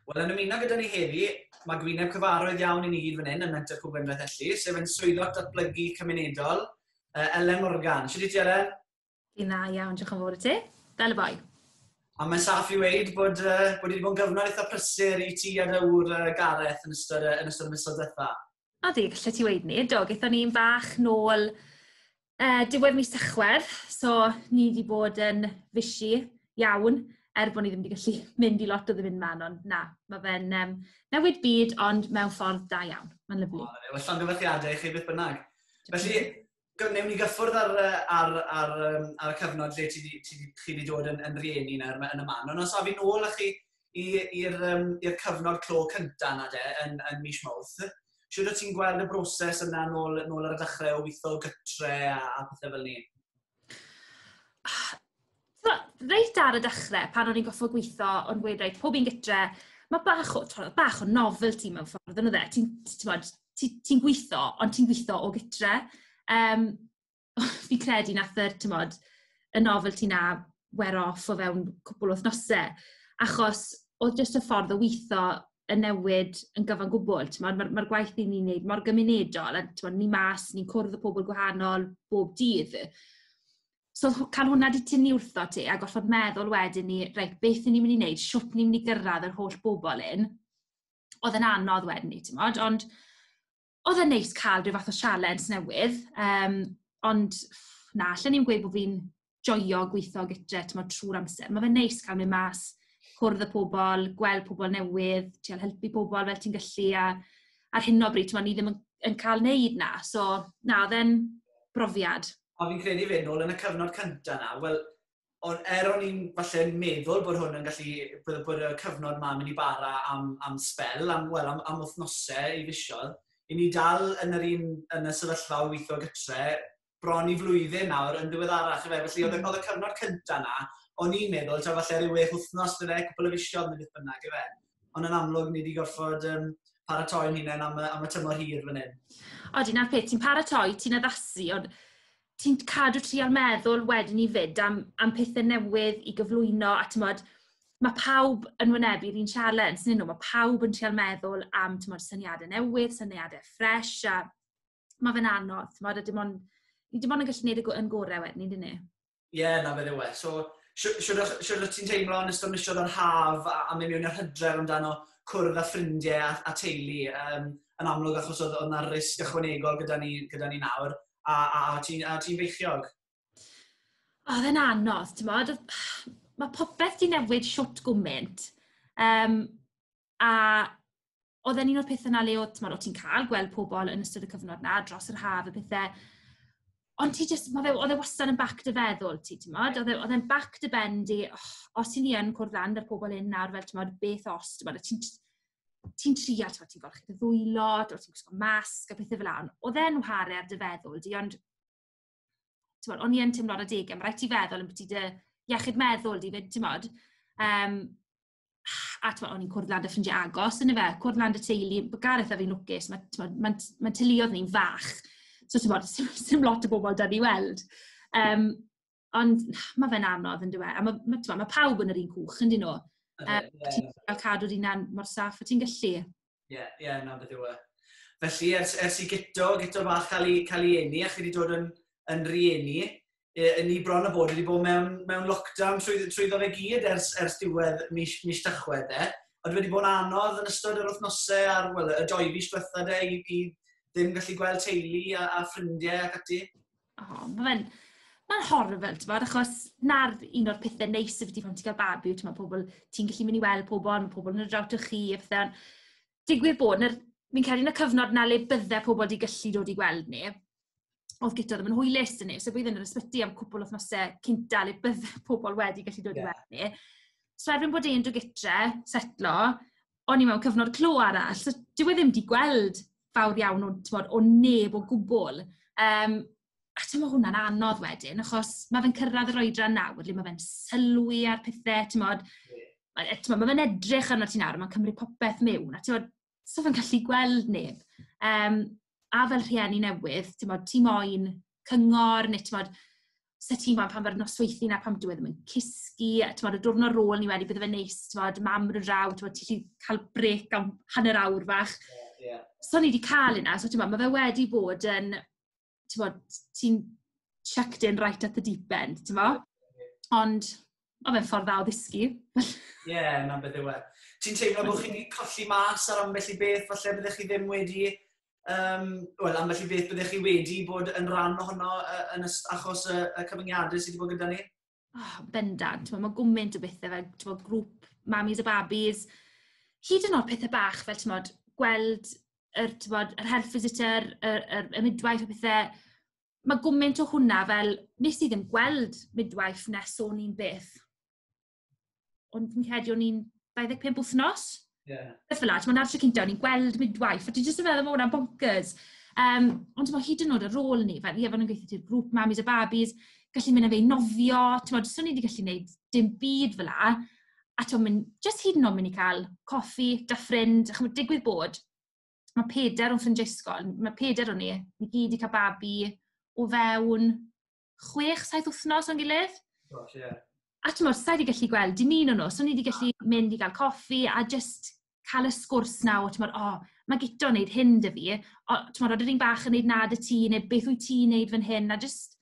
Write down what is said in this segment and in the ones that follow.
Wel, yn ymuno gyda ni heddi, mae gwyneb cyfarwydd iawn i ni gyd fan hyn yn Menter Cwm Gwendraeth Elli, sef yn swyddog datblygu cymunedol, Ellen Morgan. Sut i ti, Ellen? Dwi'n dda iawn, diolch yn fawr i ti. Fel y boi. A mae'n saff i weid bod, uh, bod wedi bod yn gyfnod eitha prysur i ti a dyw'r uh, Gareth yn ystod, uh, yn ystod y misoedd diwetha. A di, lle ti weid ni, do, gaethon ni'n bach nôl uh, diwedd mis Tachwedd, so ni wedi bod yn fysi iawn, er bod ni ddim wedi gallu mynd i lot o ddim man, ond na, mae fe'n um, newid byd, ond mewn ffordd da iawn. Mae'n lyflu. O, well, llongyfarchiadau i chi beth bynnag. Felly, Gwnewn ni gyffwrdd ar yy ar ar yym ar y cyfnod lle ti 'di ti 'di chi 'di dod yn yn rieni nawr ma' yn y man. Ond os awn ni nôl â chi i i'r yym i'r cyfnod clo cynta 'na de yn yn mis Mawrth. Shwd o't ti'n gweld y broses yna nôl nôl ar y dechrau o witho gytre a a pethe fel 'ny? So, reit ar y dechrau, pan o'n i'n goffa gweithio, o'n gweud, reit, pob un gytre, mae bach o, twa, bach o novelty mewn ffordd yn y dde. Ti'n ti, ti, ti gweithio, ond ti'n gweithio o gytre. Um, fi credu nath yr, ti'n bod, y novelty na wear off o fewn cwbl o thnosau. Achos oedd jyst y ffordd o weithio yn newid yn gyfan gwbl. Mae'r ma gwaith ni'n ni'n neud mor gymunedol, a ni'n mas, ni'n cwrdd y pobl gwahanol bob dydd. So h- cael hwnna 'di tynnu wrthot ti, a gorfod meddwl wedyn i, "reit, beth 'y ni'n mynd i wneud, shwt ni'n mynd i gyrraedd yr holl bobl hyn", oedd yn anodd wedyn 'ny, timod. Ond oedd e'n neis cael ryw fath o sialens newydd, yym, ond na, allwn i ddim gweud bod fi'n joio gweithio gytre, timod, trwy'r amser. Mae fe'n neis cael mynd mas, cwrdd â pobl, gweld pobl newydd, trio helpu pobl fel ti'n gallu, a ar hyn o bryd, timod, ni ddim yn yn cael wneud 'na. So, na, oedd e'n brofiad. Ond fi'n credu 'fyd, nôl yn y cyfnod cynta 'na, wel, on', er o'n i'n falle yn meddwl bod hwn yn gallu, bod bod y cyfnod 'ma'n mynd i bara am am sbel, am, wel, am am wythnose i fisoedd, 'yn ni dal yn yr un, yn y sefyllfa o weithio gytre bron i flwyddyn nawr yn ddiweddarach ife, felly oedd y oedd y cyfnod cynta 'na, o'n i'n meddwl taw falle ryw wech wythnos bydde, cwpwl o fisoedd neu beth bynnag ife. ond yn amlwg ni wedi gorfod um, paratoi'n hunain am, am y tymor hir fan hyn. Odi, na'r peth, ti'n paratoi, ti'n addasu, ond ti'n cadw trial meddwl wedyn ni fyd am, am pethau newydd i gyflwyno, a ti'n modd, mae pawb yn wynebu'r un sialens, nyn nhw, mae pawb yn trial meddwl am ti'n modd, syniadau newydd, syniadau ffres, a mae fe'n anodd, ti'n modd, a dim ond... Ni dim ond yn gallu gwneud y yn gorau wedyn, ni, dyn ni? Ie, yeah, na fe ddewe. So, siwr ti'n teimlo yn ystod misiodd o'r haf a, a mynd mewn i'r hydref amdano cwrdd â ffrindiau a, a teulu um, yn amlwg achos oedd yna risg ychwanegol gyda ni, gyda ni nawr a, a, a ti'n ti feichiog? Oedd e'n anodd, ti'n modd? Mae popeth di newid siwt gwmynt. Um, A oedd e'n un o'r pethau na le oedd, ti'n ti'n cael gweld pobl yn ystod y cyfnod na, dros yr haf a pethau. Ond ti jyst, ma' fe, oedd e wastad yn back dy feddwl ti, timod? Oedd e oedd e'n back dy ben di, "Och, os 'yn ni yn cwrdd lan 'da'r pobl hyn nawr fel timod, beth os?" Timod, a ti'n jyst ti'n treial, timod, ti'n golchi dy ddwylo, dwyt ti'n gwisgo masg a pethe fela, ond oedd e'n whare ar dy feddwl di, ond timod, o'n i yn teimlo ar adegau, ma' raid ti feddwl ambyti dy iechyd meddwl di 'fyd, timod? Yym. a twa, o'n i'n cwrdd lan dy ffrindiau agos, yn y fe, cwrdd lan dy teulu, mae Gareth a fi'n lwcus, mae'n ma, ma teuluodd ni'n fach, so ti'n bod, sy'n lot o bobl da ni weld. Um, ond mae fe'n anodd yn dweud, a mae ma, ma, ma pawb yn yr un cwch yn dyn nhw. Um, yeah. Ti'n cael cadw'r un mor saff o ti'n gallu. Ie, yeah, ie, yeah, na beth yw e. Felly, ers, ers i gyto, gyto fach cael ei, cael ei eni, a chi wedi dod yn, yn rieni, e, yn ni bron o bod wedi bod mewn, mewn lockdown trwy, trwy ddof e gyd ers, ers diwedd mis, mis tachwedd e. Ond wedi bod yn anodd yn ystod yr wythnosau a'r well, y doi fis diwetha de i, i ddim gallu gweld teulu a, a ffrindiau ac ati? O, ma' fe'n, ma'n horrible t'mod, achos 'na'r un o'r pethe neis ambyti pan ti'n cael babi yw t'mod pobl... ti'n gallu mynd i weld pobl, ma' pobl yn dod draw ato chi a pethe. Digwydd bod, na'r... fi'n credu yn y cyfnod 'na le bydde pobl 'di gallu dod i gweld ni, o'dd gynta ddim yn hwylus 'da neb, so bydd e'n yr ysbyty am cwpwl o wythnose cynta le bydde pobl wedi gallu dod i weld ni. So erbyn bod e'n dod gytre, setlo, o'n i mewn cyfnod clo arall, so dyw e ddim 'di gweld fawr iawn o, timod, o neb o gwbl. Yym, a timod, ma' hwnna'n anodd wedyn, achos ma' fe'n cyrraedd yr oedran nawr le ma' fe'n sylwi ar pethe, timod. A yy timod, ma' fe'n edrych arnot ti nawr a ma'n cymryd popeth miwn, a timod, so fe'n gallu gweld neb. Yym, a fel rhieni newydd, timod, ti moyn cyngor neu timod... 'sa ti'n gwbod pan mae'r nosweithi 'na pan dyw e ddim yn cysgu, a timod y diwrnod ar ôl 'ny wedyn bydde fe'n neis timod, mam bod yn draw timod ti 'llu cael brêc am hanner awr fach. Ie ie. So o'n i 'di ca'l hynna so t'mo' ma' fe wedi bod yn t'mod ti'n chucked in right at the deep end t'mo'? Ie ie. Ond Oedd e'n ffordd dda o ddysgu. Ie, na beth yw e. Ti'n teimlo bod chi wedi colli mas ar ambell i beth, falle byddech chi ddim wedi... Um, Wel, ambell i beth byddech chi wedi bod yn rhan ohono uh, yn yst, achos y, y cyfyngiadau sydd wedi bod gyda ni? Oh, bendant, mae gwmynt o bethau fel bod, grŵp mamis a babis, hyd yn oed pethau bach fel ti'n gweld yr, bod, yr health visitor, yr, yr, y midwife a pethau, ma' gwment o hwnna fel, wnes i ddim gweld midwife nes o'n i'n beth. O'n i'n credu o'n i'n 25 wythnos. Ie. Yeah. Beth fel la, ti'n meddwl, cynta, o'n i'n gweld midwife, a ti jyst yn meddwl bod hwnna'n bonkers. Um, ond ti'n meddwl, hyd yn oed ar ôl ni, fel, ie, fan nhw'n gweithio ti'r grŵp mamis a babis, gallu mynd â fe i nofio, ti'n meddwl, swn i wedi gallu gwneud dim byd fel la. A ti'n meddwl, jyst hyd yn oed mynd i cael coffi da ffrind, a chymryd digwydd bod, Ma' pedair o'n ffrindiau ysgol, ma' pedair o ni, ni gyd 'di cael babi o fewn chwech, saith wythnos o'n gilydd. Gosh, ie. A timod, sa i 'di gallu gweld dim un o nhw, so o'n i 'di gallu mynd i gael coffi a jyst cael y sgwrs 'na o, timod, "O, ma' Guto yn wneud hyn 'da fi." O, timod, "Odi r'un bach yn wneud 'na 'da ti?" neu "Beth wyt ti'n wneud fan hyn?" a jyst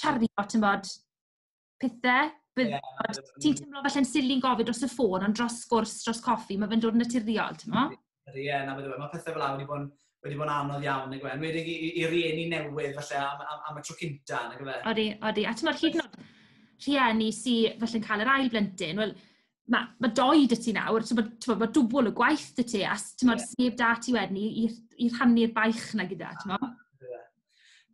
cario, timod... pethe. Bydd... ie. ...ond ti'n teimlo falle'n silli'n gofyn dros y ffôn, ond dros sgwrs, dros coffi, mae fe'n dod yn naturiol, timod? Ydy, ie, na, bydd e. Mae pethau fel awr wedi bod yn wedi bod yn anodd iawn, nag yw e? Enwedig i, i, i rieni newydd, falle, am, am, am y tro cynta, nag yw e? Odi, odi. A ti'n meddwl, hyd yn oed rhieni sy'n falle'n cael yr ail blentyn, wel, mae ma doi dy ti nawr, so mae ma dwbl y gwaith dy ti, a ti'n meddwl, yeah. sef da ti wedyn i, i, i rhannu'r baich na gyda, ti'n meddwl?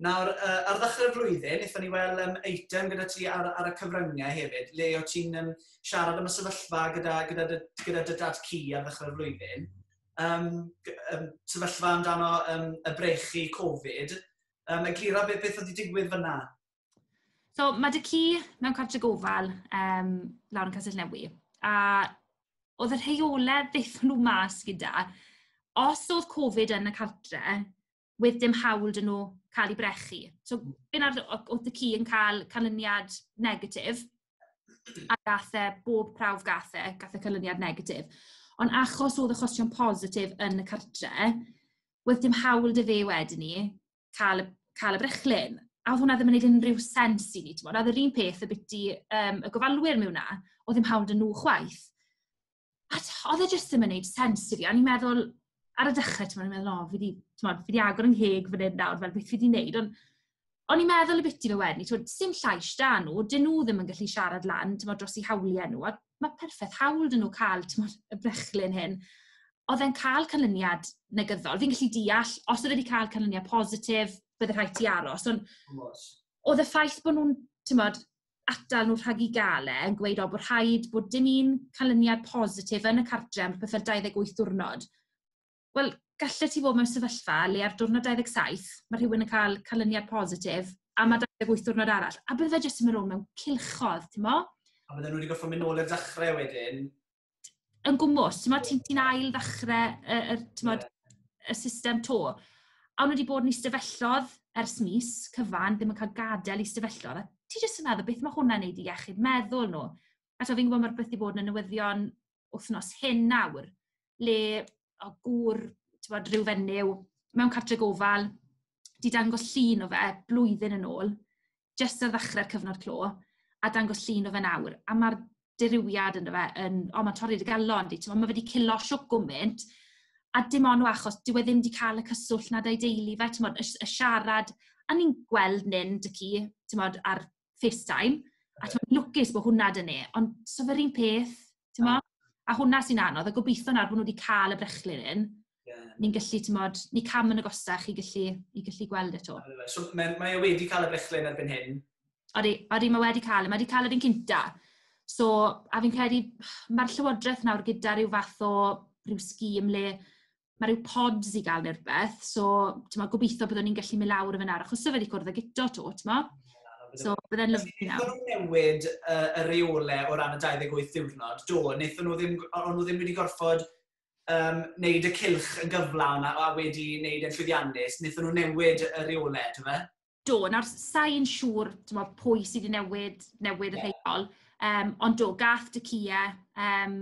Nawr, uh, ar ddechrau'r flwyddyn, wnaethon ni weld um, eitem gyda ti ar, ar y cyfryngau hefyd, le o ti'n um, siarad am y sefyllfa gyda, gyda, dy, gyda dy dad cu ar ddechrau'r flwyddyn. Um, um, sefyllfa amdano um, y brechu Covid. Um, eglura beth, beth oedd wedi digwydd fyna? So, mae dy cu mewn cartre gofal um, lawr yn Castell Newy. A oedd y rheolau ddeithon nhw mas gyda, os oedd Covid yn y cartre, with dim hawl 'da nhw cael eu brechu. So be wnaeth... o- oedd y ci yn cael canlyniad negatif, a gaeth e, bob prawf gaeth e, gaeth e canlyniad negatif. Ond achos oedd achosion positif yn y cartre', wedd dim hawl 'da fe wedyn 'ny cael y cael y brechlyn. A oedd hwnna ddim yn wneud unrhyw sens i ni, timod. A oedd yr un peth ambiti yym y gofalwyr mewn 'na, oedd dim hawl 'da nhw chwaith. a oedd e jyst ddim yn gwneud sens i fi. O'n i'n meddwl, ar y dechrau, ti'n meddwl, o, fi wedi, ti'n meddwl, fi wedi agor yn heg fan hyn nawr, fel beth fi wedi gwneud. Ond o'n i'n meddwl y bit i fe wedyn, ti'n meddwl, sy'n llais da nhw, dyn nhw ddim yn gallu siarad lan, ti'n meddwl, dros i hawliau nhw. A mae perffaith hawl dyn nhw cael, ti'n meddwl, y brechlyn hyn. Oedd e'n cael canlyniad negyddol. Fi'n gallu deall, os oedd wedi cael canlyniad positif, bydde rhaid ti aros. Ond oedd y ffaith bod nhw'n, ti'n meddwl, atal nhw rhag eu gael e, yn gweud, o, bod rhaid bod dim un canlyniad positif yn y cartre am byth ar 28 diwrnod. Wel, gallet ti fod mewn sefyllfa le ar diwrnod 27, mae rhywun yn cael canlyniad positif, a mae 28 diwrnod arall, a bydde fe jyst yn mynd rownd mewn cilchodd, ti'n mo? A bydde nhw wedi gorfod mynd nôl i'r dechrau wedyn, yn gwmwys, ti'n yeah. ti ail ddechrau y, y, yeah. y system to. A nhw wedi bod yn eistefellodd ers mis cyfan, ddim yn cael gadael i eistefellodd. A ti jyst yn meddwl beth mae hwnna'n neud i iechyd meddwl nhw. A to fi'n gwybod mae'r beth i bod yn y newyddion wythnos hyn nawr, le o gŵr, ti'n bod, rhyw fenyw, mewn cartre gofal, di dangos llun o fe blwyddyn yn ôl, jyst ar ddechrau'r cyfnod clo, a dangos llun o fe nawr, a ma'r dirywiad ynddo fe yn... o, mae'n torri'r galon 'di, timod, mae fe 'di cillo shwt gwmint, a dim ond o achos dyw e ddim 'di cael y cyswllt 'na 'da'i deulu fe, timod, y s- y siarad, a ni'n gweld Nun dy'cu, timod, ar FaceTime, a timod, lwcus bod hwnna 'da ni, ond 'sa fe'r un peth, timod? A hwnna sy'n anodd, a gobeithio nawr bod nhw wedi cael y brechlyn hyn, ni'n gallu, ti'n modd, ni cam yn agosach i gallu, i gallu gweld eto. So, mae, mae e wedi cael y brechlyn erbyn hyn? Odi, odi, mae wedi cael e. Mae wedi cael yr un cynta. So, a fi'n credu, mae'r llywodraeth nawr gyda rhyw fath o rhyw sgîm le mae rhyw pods i gael neu'r beth, so ti'n ma, gobeithio byddwn ni'n gallu mynd lawr y fyna, achos sef wedi cwrdd ag eto to, ti'n ma? So, byddai'n lyflu nawr. Wnaethon nhw newid uh, y reole o ran y 28 ddiwrnod, do, wnaethon nhw ddim, ond nhw ddim wedi gorfod um, wneud y cilch yn gyflawn a, a wedi wneud e'n llwyddiannus, wnaethon nhw newid y reolau, dwi fe? Do, nawr sa'n siŵr mo, pwy sydd wedi newid, newid y rheol, um, ond do, gath dy cia, um,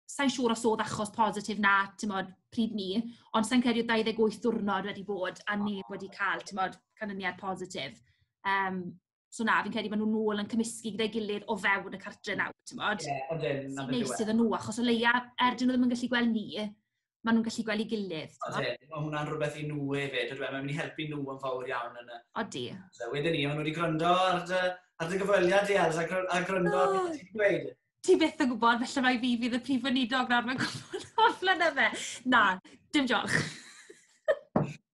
sa'n siŵr os oedd achos positif na, ti'n modd, pryd ni, ond sa'n credu 28 diwrnod wedi bod a neb wedi cael, ti'n modd, canlyniad positif. Um, So na, fi'n credu maen nhw'n ôl yn cymysgu gyda'i gilydd o fewn y cartre nawr, timod. Ie, ydyn, na beth yw e. Neis iddyn nhw, achos o leia, er dyn nhw ddim yn gallu gweld ni, maen nhw'n gallu gweld ei gilydd. Odi, mae hwnna'n rhywbeth i nhw hefyd, ydw e, mae'n mynd i helpu nhw yn fawr iawn yn y... Odi. So, wedyn ni, maen nhw wedi gwrando ar dy, ar dy gyfweliad di, Els, a, gr a gwrando oh. ar beth ti'n gweud. ti byth yn gwybod, felly mae fi fydd y prif weinidog nawr, mae'n gwybod o'r flynedd fe. Na, dim diolch.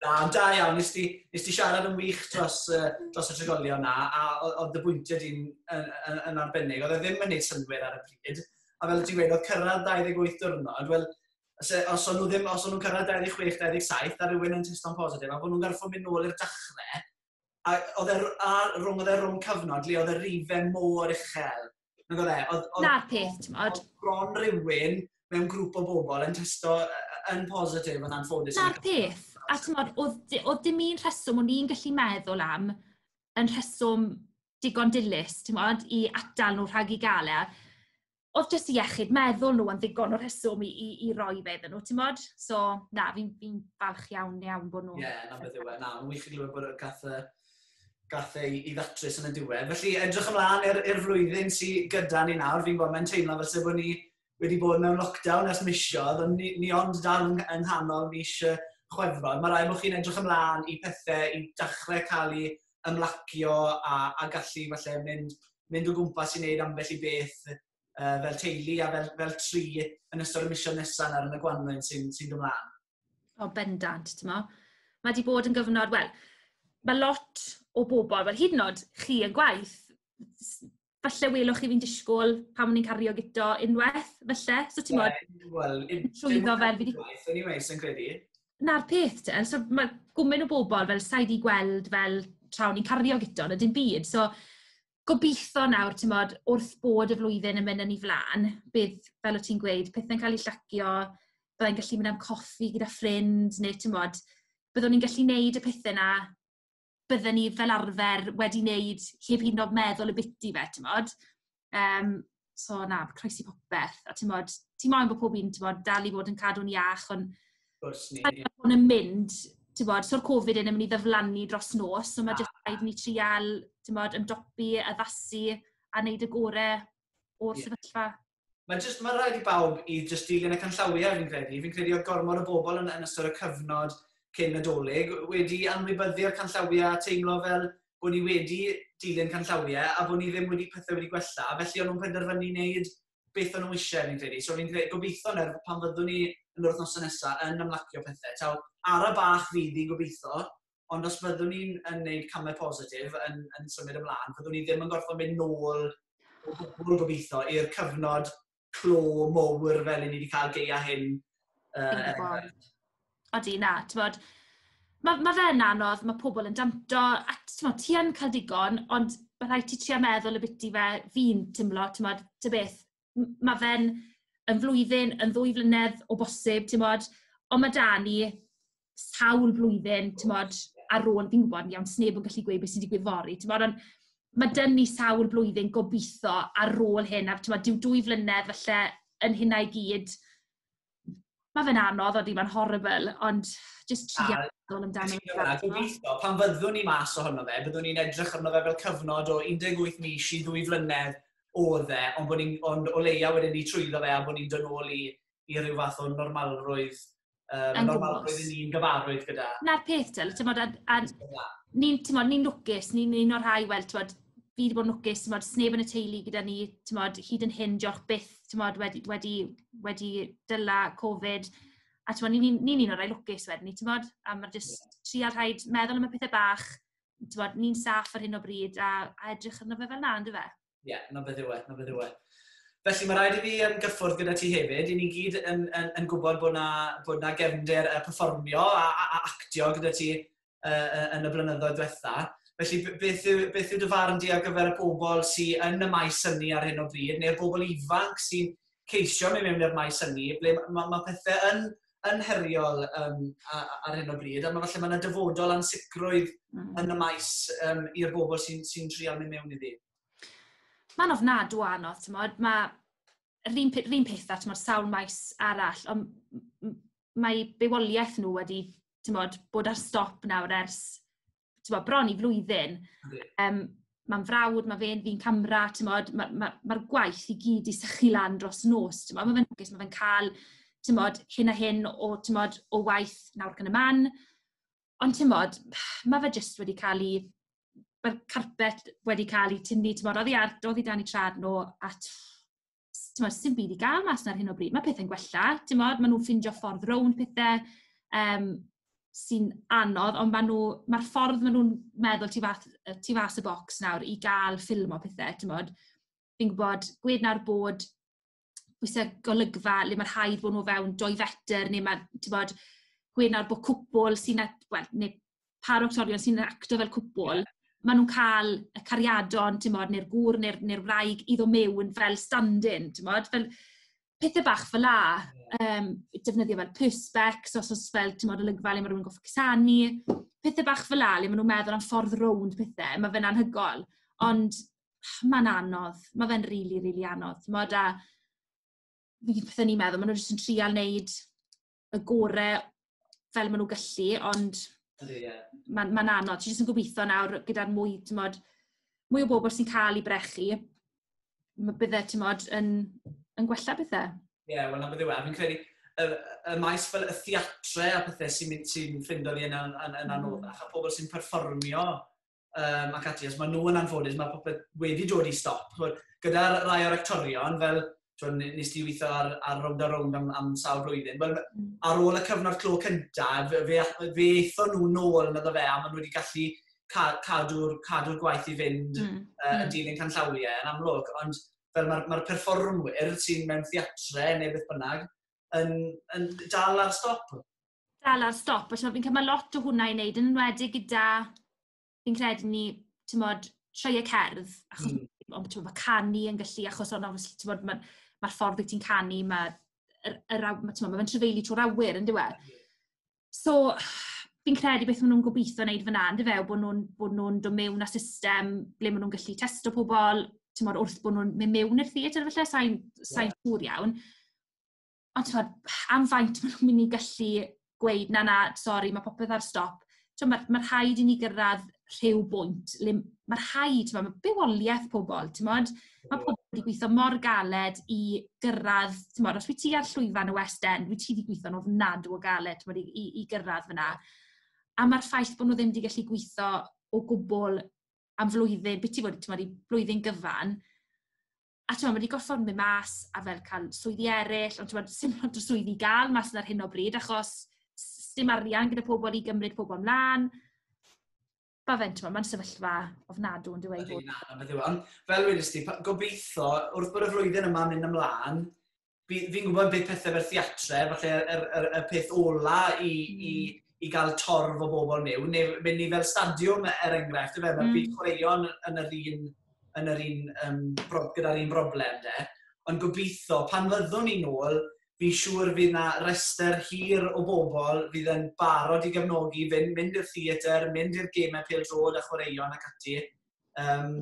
Na, ond da iawn, nes ti, nes ti siarad yn wych dros, uh, dros y trigolion na, a oedd y bwyntiau di'n yn, yn, yn arbennig. Oedd e ddim yn gwneud synwyr ar y pryd, a fel ti'n gweud, oedd cyrraedd 28 diwrnod, wel, os o'n nhw ddim, os o'n nhw'n cyrraedd 26, 27, a rhywun yn testo'n positif, a bod nhw'n garfod mynd nôl i'r dachrau, a oedd e r- a rhwng oedd e rhwng cyfnod le oedd y rife mor uchel. Nag oedd e? Oedd, oedd, Na'r peth, ti'n modd. oedd bron rhywun mewn grŵp o bobl yn testo yy, yy, yn positif yn anffodus. Na'r peth. A ti'n modd, oedd, di- oedd dim un rheswm o'n i'n gallu meddwl am yn rheswm digon dilys, ti'n modd, i atal nhw rhag i gael e. oedd jyst iechyd meddwl nhw yn ddigon o rheswm i i i roi fe iddyn nhw, timod? So, na, fi'n fi'n falch iawn, iawn bod nhw... Ie, na beth yw e. Na, mae'n wych i glywed bod gath y gath ei i ddatrys yn y diwedd. Felly, edrych ymlaen i'r i'r flwyddyn sy gyda ni nawr. Fi'n gwybod mae'n teimlo fel sef bod ni wedi bod mewn lockdown ers misiodd, ond ni, ni ond dal yng, yng nghanol mis chwefrod. Mae rhaid bod chi'n edrych ymlaen i pethau i dachrau cael ei ymlacio a a gallu falle mynd mynd o gwmpas i wneud ambell i beth yy fel teulu a fel fel tri yn ystod y misoedd nesa' nawr yn y gwanwyn sy'n sy'n dod mlan. O bendant, t'mo'. Mae 'di bod yn gyfnod, wel, mae lot o bobl, wel hyd yn oed chi yn gwaith, falle welwch chi fi'n disgwyl pan o'n i'n cario gyda unwaith, falle, so ti'n bod... Ie, wel, trwyddo fe... Anyway, sy'n credu. Na'r peth te, so mae gwmyn o bobl fel sa'i di gweld fel tra o'n i'n cario gyda, na dim byd, so gobeithio nawr, ti'n bod, wrth bod y flwyddyn yn mynd yn ei flaen, bydd, fel o' ti'n gweud, pethe'n cael eu llacio, byddai'n gallu mynd am coffi gyda ffrind, neu ti'n bod, byddwn ni'n gallu wneud y pethe 'na bydden ni fel arfer wedi wneud heb hyd yn oed meddwl ambiti fe, timod. Yym, so na, croesi popeth. A timod, ti moyn bod pob un, timod, dal i fod yn cadw'n iach, ond... Wrth gwrs ni. ...Mae pobl yn mynd, timod, so'r Covid hyn yn mynd i ddiflannu dros nos, so mae jyst rhaid i ni treial, timod, ymdopi, addasu a wneud y gorau o'r sefyllfa. Mae jyst, mae rhaid i bawb i jyst dilyn y canllawiau fi'n credu. Fi'n credu oedd gormod o bobl yn, yn ystod y cyfnod cyn nadolig wedi anwybyddu'r canllawiau a teimlo fel bod ni wedi dilyn canllawiau a bod ni ddim wedi pethau wedi gwella. Felly o'n nhw'n penderfynu wneud beth o'n nhw eisiau fi'n credu. So fi'n credu, gobeithio nawr pan fyddwn ni yn yr wythnosau nesaf yn ymlacio pethau. Taw ara bach fydd i gobeithio, ond os byddwn ni'n yn gwneud camau positif yn, yn symud ymlaen, byddwn ni ddim yn gorfod mynd nôl o gwbl gobeithio i'r cyfnod clo mowr fel ni wedi cael geia hyn. Uh, Odi, na, ti'n bod, mae ma fe'n anodd, mae pobl yn danto, a ti'n ti yn cael digon, ond mae rhaid ti trio meddwl y biti fe fi'n tymlo, ti'n bod, ty beth, m- mae fe'n yn flwyddyn, yn ddwy flynedd o bosib, timod. Ond ma' 'da ni sawl blwyddyn, timod, ar ôl, fi'n gwybod yn iawn, 'swn neb yn gallu gweud be sy'n digwydd fory, timod, ond ma' 'da ni sawl blwyddyn gobeithio ar ôl hyn. A timod, dyw dwy flynedd falle yn hynna i gyd Ma' fe'n anodd odi, ma'n horrible, ond jyst tria meddwl amdano fe. A gobeithio, pan fyddwn ni mas ohono fe, byddwn ni'n edrych arno fe fel cyfnod o 18 mis i ddwy flynedd oedd e, ond bod ni'n, ond o leia wedyn ni trwyddo fe a bod ni'n dod nôl i, i ryw fath o normalrwydd, um, normalrwydd i ni'n gyfarwydd gyda. Na'r peth, ti'n bod, a, a ni'n, ti'n bod, ni'n lwcus, ni'n un o'r rhai, wel, ti'n bod, fi 'di bod yn lwcus, timod, 'sneb yn y teulu gyda ni, timod, hyd yn hyn, diolch byth, timod, wedi wedi wedi dala Covid. A timod, ni'n ni'n ni'n un o'r rhai lwcus wedyn ni, timod, a ma' jyst yeah. trio rhaid meddwl am y pethau bach, timod, ni'n saff ar hyn o bryd a, a edrych arno fe fel na, ynddo fe? Ie, yeah, na beth yw e, na beth yw e. Felly, mae rhaid i fi um, gyffwrdd gyda ti hefyd. I ni gyd yn, yn, yn gwybod bod na, bod na gefnder uh, perfformio a, a, a actio gyda ti uh, yn y blynyddoedd diwetha. Felly, beth yw, beth yw dy farn di ar gyfer y pobl sy'n yn y maes hynny ar hyn o bryd, neu'r bobl ifanc sy'n ceisio mewn i'r maes hynny, ble mae, mae, mae pethau yn yn heriol um, ar hyn o bryd, a mae falle mae'n dyfodol ansicrwydd mm. yn y maes um, i'r bobl sy'n sy, n, sy n trial mynd mewn iddi. Mae'n ofnadw anodd, ti'n modd. Mae yr un pe- 'r un peth â t'mod sawl maes arall on' m- m- mae bywoliaeth nhw wedi t'mod bod ar stop nawr ers t'mod bron i flwyddyn. Yndi. Yym ma'n frawd, ma' fe'n ddyn camera t'mod ma' ma' ma'r gwaith i gyd 'di sychu lan dros nos t'mod ma' fe'n lwcus ma' fe'n ca'l t'mod hyn a hyn o t'mod o waith nawr ac yn y man. Ond timod, ma' fe jyst wedi cael ei... mae'r carpet wedi cael ei tynnu, timod, oddi ar... oddi dan eu traed nhw, a timod, sdim byd i gael mas 'na ar hyn o bryd. Mae pethe'n gwella, timod, maen nhw'n ffeindio ffordd rownd pethe, yym, sy'n anodd, ond maen nhw... mae'r ffordd maen nhw'n meddwl tu fath- yy tu fas y bocs nawr i gael ffilmio pethe, timod, fi'n gwybod, gwed nawr bod... oes 'na golygfa le ma' rhaid bod nhw o fewn dwy fetr, neu ma', tibod, gwênawr bo cwpwl sy'n at- wel, neu pâr o actorion sy'n actio fel cwpwl, maen nhw'n cael y cariadon, timod, neu'r gŵr neu'r neu'r wraig i ddod mewn fel stand-in, timod, fel pethe bach fel 'na. Yym, defnyddio fel perspecs os oes fel, timod, olygfa le ma' rywun yn gorfod cusanu, pethe bach fel 'na le maen nhw'n meddwl am ffordd rownd pethe, ma' fe'n anhygoel. Ond... mae'n anodd, mae fe'n rili, rili anodd. Timod, a fi'n credu bydden i'n meddwl, maen nhw jyst yn trial wneud y gore fel maen nhw'n gallu, ond mae'n ma anodd. Ti jyst yn gobeithio nawr gyda'r mwy, timod, mwy o bobl sy'n cael ei brechu, mae bydde, timod, yn, yn gwella bethau. Ie, yeah, wel, na bydde wedi. Fi'n credu, y, y maes fel y theatre a pethau sy'n sy ffindo fi yn, yn, yn, yn mm. anoddach, a pobl sy'n perfformio um, ac ati, os maen nhw yn anffodus, mae popeth wedi dod i stop. Gyda rai o'r actorion, fel twyd, nes ti weithio ar, ar rownd a rownd am, am sawl blwyddyn, well, mm. ar ôl y cyfnod clo cyntaf, fe, fe, fe eitho nhw nôl yn ydw fe, a maen nhw wedi gallu cadw'r cadw gwaith i fynd mm. uh, yn mm. dilyn canllawiau yn amlwg, ond fel mae'r ma, perfformwyr sy'n mewn theatre neu beth bynnag, yn, yn dal ar stop. dal ar stop, a timod, fi'n credu mae lot o hwnna i wneud, yn enwedig gyda, fi'n credu ni, timod, sioeau cerdd, achos mm. ond ti'n gwybod, canu yn gallu, achos ond obviously, ti'n gwybod, mae'r ma ffordd wyt ti'n canu, mae yr, yr, ma, ti'n gwybod, mae'n trefeili trwy'r awyr, yn diwedd. E? So, fi'n credu beth maen nhw'n gobeithio wneud fyna, yn fe, bod nhw'n nhw, nhw dod mewn â system ble maen nhw'n gallu testo pobl, ti'n modd wrth bod nhw'n mynd mewn i'r theatr, felly, sa'n yeah. siŵr iawn. Ond timod, am faint maen nhw'n mynd i gallu gweud, "na, na, sori, mae popeth ar stop"? Timod, ma' ma' rhaid i ni gyrraedd rhyw bwynt le m- ma' rhaid, timod, ma' bywoliaeth pobl, timod, ma' pobl wedi gweithio mor galed i gyrraedd, timod, os wyt ti ar llwyfan y West End, wyt ti 'di gweithio'n ofnadw o galed, timod, i i i gyrraedd fan'na, a ma'r ffaith bod nhw ddim 'di gallu gweithio o gwbl am flwyddyn, byti bod, timod, i blwyddyn gyfan, a t'mod ma' 'di gorffod myn' mas a fel ca'l swyddi eryll ond t'mod sim lot o swyddi i ga'l mas 'na ar hyn o bryd achos s- s- dim arian gyda pobol i gymryd pobol mlan. Ma' fe'n t'mod ma'n sefyllfa ofnadw on'd yw e i fod... Ydi na, beth yw e on' fel wedest ti pa- gobeitho wrth bod y flwyddyn yma'n myn' ymlan fi, fi'n gwybod beth pethau fel theatre, falle y, y, y peth ola i, mm. i, i gael torf o bobl mewn, neu mynd ni fel stadiwm er enghraifft, fe, mae'r mm. byd chwaraeon yn yr un, yn yr un um, gyda'r un broblem de. Ond gobeithio, pan fyddwn ni'n ôl, fi'n siŵr fydd na rester hir o bobl fydd yn barod i gefnogi, fynd, mynd i'r theatr, mynd i'r gemau pêl drod a chwaraeon ac ati. Yym,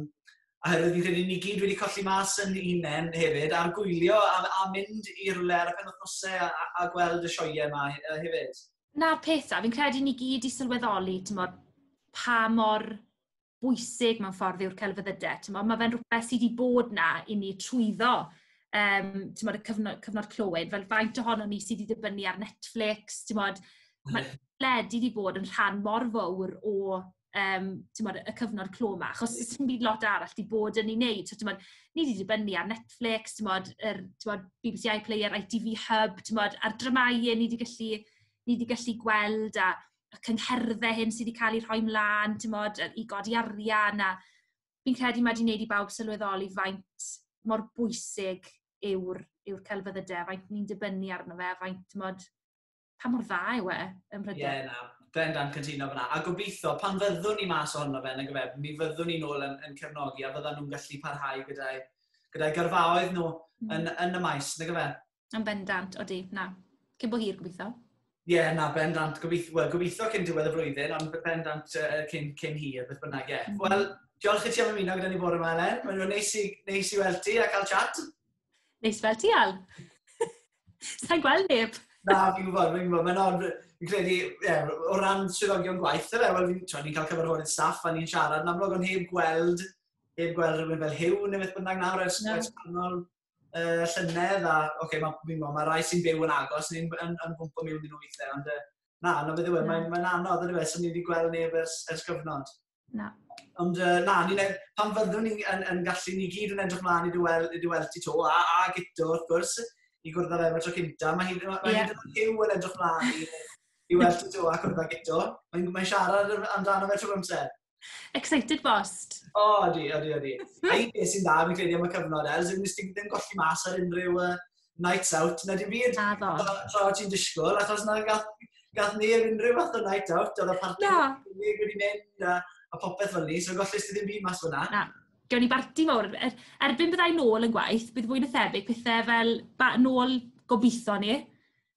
a hefyd fi'n credu ni gyd wedi colli mas yn unen hefyd ar gwylio a, a mynd i rywle ar y penwythnosau a, a, a gweld y sioeau yma hefyd. Na'r peth da, fi'n credu ni gyd i sylweddoli, ti'n bod, pa mor bwysig mewn ffordd yw'r celfyddydau. Ti'n bod, mae fe'n rhywbeth sydd wedi bod na i ni trwyddo um, ti'n bod, y cyfnod, cyfnod clywed, fel faint ohono ni sydd wedi dibynnu ar Netflix, ti'n bod, mae led wedi bod yn rhan mor fawr o yym, timod, y cyfnod clo 'ma, achos does dim byd lot arall 'di bod yn ei wneud. So timod, ni 'di dibynnu ar Netflix, timod, yr timod BBC iPlayer, ITV Hub, timod, a'r dramâu ni 'di gallu ni 'di gallu gweld, a y cyngherddau hyn sy 'di cael eu rhoi mlaen, timod, yy i godi arian a... Fi'n credu mae 'di wneud i bawb sylweddoli faint mor bwysig yw'r yw'r celfyddydau a faint ni'n dibynnu arno fe a faint, timod... pa mor dda yw e ym Mhrydain. Ie, yeah, na, bendant cytuno fyna. A gobeithio, pan fyddwn ni mas ohono fe, nag efe, mi fyddwn ni'n ôl yn, yn cefnogi a fyddan nhw'n gallu parhau gyda'i gyda gyrfaoedd nhw mm. yn, yn y maes, nag efe? Yn bendant, odi, na. Cyn bo hir, gobeithio. Ie, yeah, na, bendant. Gobeithio, well, gobeithio cyn diwedd y flwyddyn, ond bendant uh, cyn, cyn hir, beth bynnag, ie. Yeah. Mm. Wel, diolch i ti am ymuno gyda ni bore yma, Elen. Mae'n neis i, neis i weld ti a cael chat. Neis fel ti, Al. Sa'n gweld neb. Na, fi'n gwybod, fi'n gwybod. Mae'n ond, fi'n credu, yeah, o ran swyddogion gwaith, e, wel, fi'n ni cael cyfarfodydd staff a ni'n siarad yn amlwg ond heb gweld, heb gweld rhywun fel hyw neu beth bynnag nawr ers, no. ers canol uh, llynedd a, oce, okay, mae'n fi'n gwybod, mae rai sy'n byw yn agos, ni'n yn, yn gwmpa mewn yn nhw weithiau, ond uh, na, na beth yw e, mae'n mae anodd, ydy fe, sy'n ni wedi gweld neb ers, ers gyfnod. Na. Ond uh, na, ni, pan fyddwn ni yn, yn gallu, ni gyd yn edrych mlaen i dy weld, i dy weld ti to, a, a gyto, wrth gwrs, i gwrdd â fe am y tro cynta. Mae hyd yn yeah. hyw yn edrych mlaen i, i weld ti to a gwrdd â gyto. Mae'n mae siarad amdano fe trwy'r amser. Excited bost. O, oh, di, o, di, o, di. A i beth sy'n dda, fi'n credu am y cyfnod, Els, ddim, ddim golli mas ar unrhyw uh, nights out, na dim byd. Na do. Tra o ti'n disgwyl, achos na gath, gath ni ar unrhyw fath o night out, oedd y party no. wedi mynd a, a popeth fel ni, so gollus ti ddim byd mas fyna. Na, gawn ni barti mawr. Er, erbyn byddai nôl yn gwaith, bydd fwy na thebyg pethau fel ba, nôl gobeithio ni.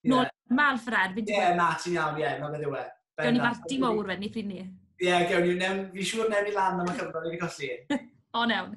Nôl yeah. mal ffrad. Ie, yeah, na, ti'n iawn, ie, yeah, na beth yw e. Gawn ni barti mawr wedyn ni pryd ni. Ie, yeah, gawn ni. Fi'n siŵr newn ni lan am y cyfnod i fi colli. o, newn.